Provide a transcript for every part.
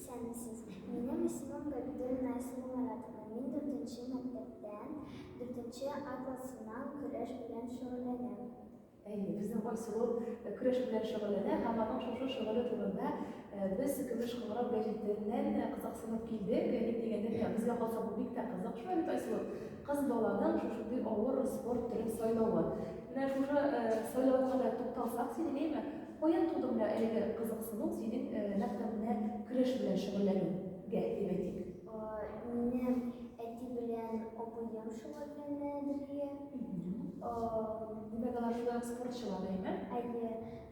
Исәнмесез. Минем исемем Габидуллина Айсина Маратовна. Мин дүртенче мәктәптән дүртенче А классыннан көрәш белән шөгыльләнәм. Әйе, безнең Айсылу э, көрәш белән шөгыльләнә һәм аның шушы шөгыле турында э, без Көмеш кыңгырау гәҗитеннән э, кызыксынып килдек. Гәҗит дигәндә, безгә калса бу бик тә кызык шул бит, Айсылу. Кыз баланың шушындый авыр спорт төрен сайлавы. Менә шушы сайлауга да тукталсак, син әйме, каян туды менә әлеге кызыксыну синең нәкъ менә көрәш белән шөгыльләнүгә дип әйтик? Мине әти белән абыем шөгыльләнә бергә. Димәк, алар шулай ук спортчылар, әйме? Әйе.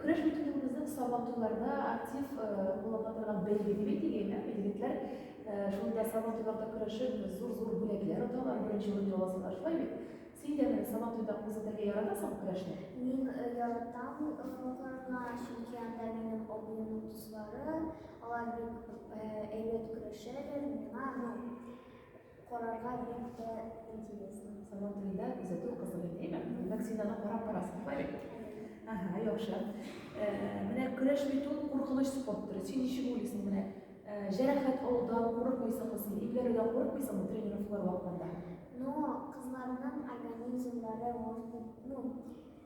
Көрәш бит үзебезнең сабантуйларда актив куллана торган бәйге дип әйтик, әйме? Егетләр шунда сабантуйларда көрәшеп, зур-зур бүләкләр оталар, беренче урын яласалар, шулай бит? Син дә менә сабантуйда күзәтергә яратасың көрәшне? Мин яратам карарга, чөнки анда минем абыемның дуслары, алар бик әйбәт көрәшәләр, миңа, ну, Карарга бик тә интересно. Сабан туенда күзәтү кызык иде, әйме? Димәк, син аны карап барасың, Фарик. Ага, яхшы. Э, менә көрәш бит ул куркыныч спорт төре. Син ничек уйлыйсың, менә э, җәрәхәт алудан курыкмыйсыңмы син? Имгәрүдән курыкмыйсыңмы тренировкалар вакытында? Ну, кызларның организмнары, может быть, ну,